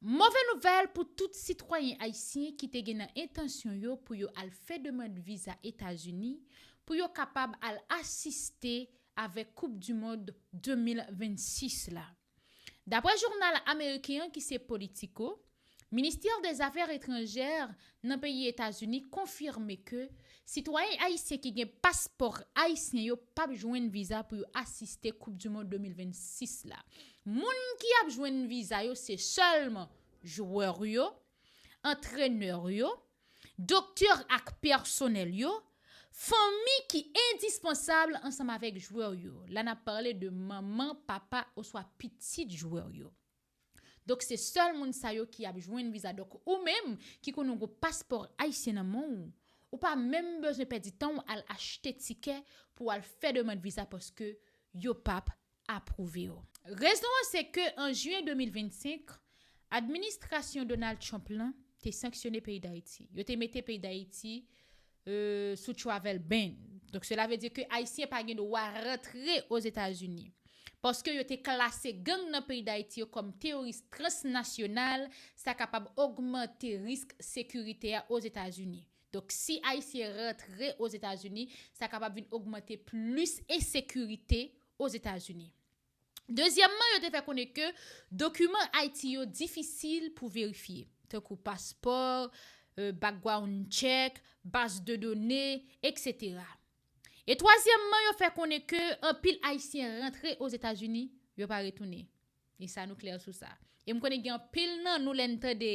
Move nouvèl pou tout sitwayen ayisyen ki te gen nan entansyon yo pou yo al fè demand viza Etazini pou yo kapab al asiste avèk koup du mond 2026 la. Daprè jounal ameriken an ki se Politico, Ministère des Affaires étrangères nan peyi Etazini konfime ke sitwayen ayisyen ki gen paspò ayisyen yo pap jwenn viza pou yo asiste koup du mond 2026 la. Moun ki ap jwenn viza yo se sèlman jwè yo, antrenè yo, doktè ak pèsonèl yo, fanmi ki endispansab ansanm avèk jwè yo, la nap pale de manman, papa oswa pitit jwè yo. Donk se sèl moun sa yo ki ap jwenn viza donk ou menm ki konnen ou gon paspò ayisyen nan men w ou pa menm bezwen pèdi tan w al achte tikè pou w al fè demand viza paske yo pap apwouve w. Rezon an se ke an jiyen 2025 administrasyon Donald Trump lan te sanksyone peyi Dayiti yo te mete peyi Dayiti sou travel ban. Donk sela vle di ke Ayisyen pa gen dwa rantre Ozetazini. Paske yo te klase gang nan peyi Dayiti yo kòm teyoris transnasyonal, sa kapab ogmante risk sekirite a Ozetazini. Donk si Ayisyen rantre Ozetazini, sa kapab vin ogmante plis ensekirite Ozetazini. Dezyèmman, yo te fè konnen ke dokiman Ayiti yo difisil pou verifye, tankou paspò, background check, baz de done, etc. E twazyèmman, yo fè konnen ke anpil Ayisyen rantre Ozetazini, yo pa retounen. E sa nou klè sou sa. E m konnen gen anpil nan nou lè n tande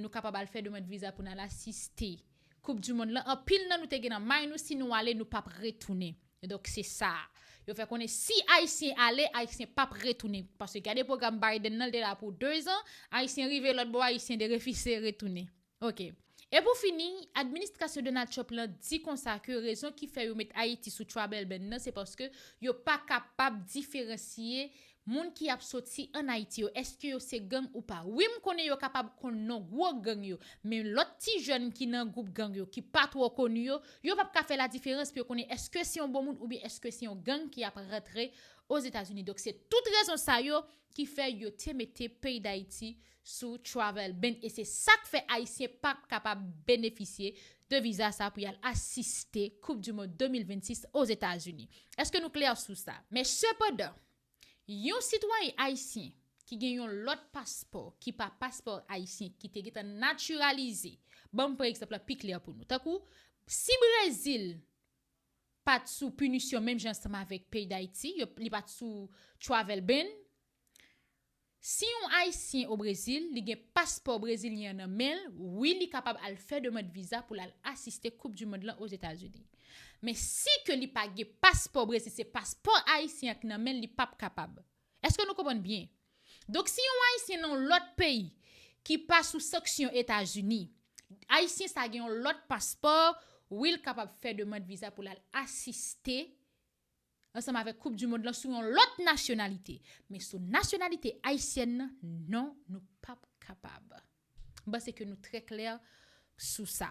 nou kapab al fè demand viza pou n al asiste koup du mond lan, anpil nan nou te gen nan may nou si nou ale nou pap retounen. Donk se sa a. Yo fè konnen si Ayisyen ale, Ayisyen p ap retounen. Paske gade pwogram Biden nan, l te la pou 2 zan, Ayisyen rive lòt bò, Ayisyen derefize retounen. Ok. E pou fini, administrasyon Donald Trump lan di konsa ke rezon ki fè yo met Ayiti sou trouble ban nan se paske yo pa kapab diferansye Moun ki ap soti an Ayiti yo eske yo se gang ou pa? Wi m konnen yo kapab konn non gwo gang yo, men lòt ti jèn ki nan gwoup gang yo ki pa twò koni yo, yo pap ka fè ladiferans pou yo konnen eske se yon bon moun oubyen eske se yon gang ki ap rantre Ozetazini. Donk se tout rezon sa yo ki fè yo te mete peyi Dayiti sou travel ban e se sak fè ayisyen pap kapab benefisye de viza sa pou yal asiste koup du mond 2026 ozetazini eske nou klè sou sa. Men sepandan, yon sitwayen ayisyen ki gen yon lòt paspò ki pa paspò ayisyen ki te gentan natiralize, banm pran egzanp la pi klè pou nou, tankou si Brezil pat sou pinisyon menm jan ansanm avèk peyi Dayiti, yo li pat sou travel ban, Si yon Ayisyen o Brezil, li gen paspò brezilyen an nan men l, wi li kapab al fè demand viza pou l al asiste koup du mond lan Ozetazini. Men si ke li pa gen paspò Brezil, se paspò Ayisyen an ki nan men l, li pap kapab. Eske nou konprann byen? Donk si yon Ayisyen nan yon lòt peyi ki pa sou sanksyon Etazini, Ayisyen sa gen yon lòt paspò, wi l kapab fè demand viza pou l al asiste ansanm avèk koup du mond lan sou yon lòt nasyonalite men sou nasyonalite ayisyèn nan non nou pap kapab m panse ke nou trè klè sou sa.